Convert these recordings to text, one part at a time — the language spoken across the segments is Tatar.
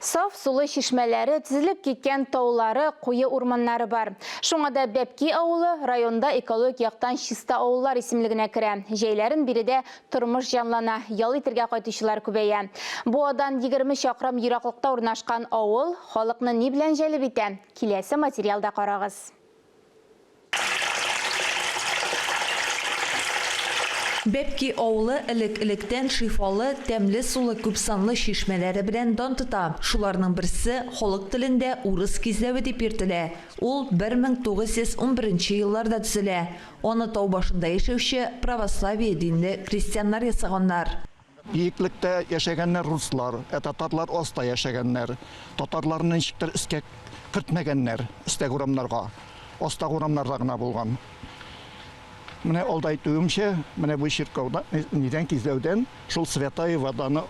Саф сулы чишмәләре, тезелеп киткән таулары, куе урманнары бар. Шуңа да Бәпки авылы районда экологик яктан чиста авыллар исемлегенә керә. Җәйләрен биредә тормыш җанлана, ял итергә кайтучылар күбәя. Буадан егерме чакрым ераклыкта урнашкан авыл халыкны ни белән җәлеп итә? Киләсе материалда карагыз. Бәпки авылы элек-электән шифалы, тәмле сулы күпсанлы чишмәләре белән дан тота. Шуларның берсе, халык телендә Урыс кизләве дип йөртелә. Ул бер мең тугыз йөз унберенче елларда төзелә. Аны тау башында яшәүче православие динле крестьяннар ясаганнар. Биеклектә яшәгәннәр руслар, ә татарлар аста яшәгәннәр. Татарларны ничектер өскә кертмәгәннәр, өстәге урамнарга. Астагы урамнарда гына булган. Менә алда әйтүемчә, менә бу чиркәүдә нидән кизләүдән шул Святая Воданы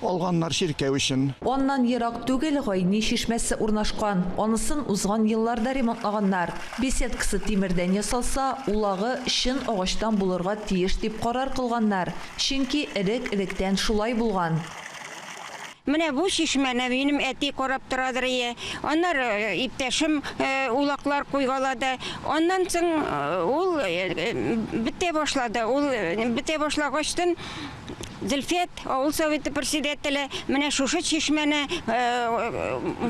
алганнар чиркәү өчен. Аннан ерак түгел Гайни чишмәсе урнашкан. Анысын узган елларда ремонтлаганнар. Беседкасы тимердән ясалса, улагы чын агачтан булырга тиеш дип карар кылганнар. Чөнки элек-электән шулай булган. Менә бу чишмәне минем әти карап торадыр ие, аннары иптәшем улаклар куйгалады. Аннан соң ул бетә башлады. Ул бетә башлагачтын Зөлфәт, авыл советы председателе, менә шушы чишмәне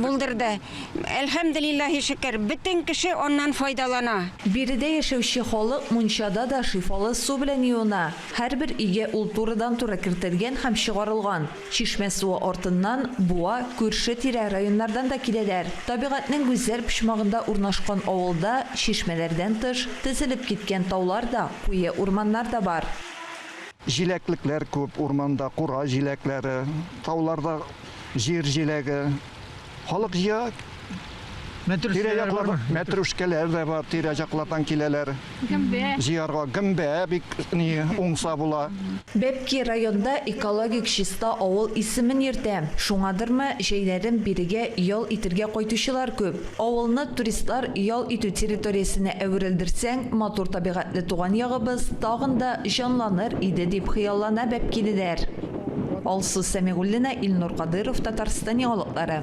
булдырды. Әлхәмделиллаһи шөкер, бөтен кеше аннан файдалана. Биредә яшәүче халык мунчада да шифалы су белән юына. Һәрбер өйгә ул турыдан-туры кертелгән һәм чыгарылган. Чишмә суы артыннан, Буа, күрше-тирә районнардан да киләләр. Табигатьнең гүзәл почмагында урнашкан авылда, чишмәләрдән тыш, тезелеп киткән таулар да, куе урманнар да бар. Җиләклекләр күп, урманда кура җиләкләре, тауларда җир җиләге. халык җыя. Тирә-якларда мәтрүшкәләр дә бар, тирә-яклардан киләләр. Гөмбә. Җыярга гөмбә бик ни уңса була. Бәпки районда экологик чиста авыл исемен йөртә. Шуңадырмы, җәйләрен бирегә ял итергә кайтучылар күп. Авылны туристлар ял итү территориясенә әверелдерсәң, матур табигатьле туган ягыбыз тагын да җанланыр иде, дип хыяллана бәпкилеләр. Алсу Сәмигуллина, Илнур Кадыйров, Татарстан яңалыклары.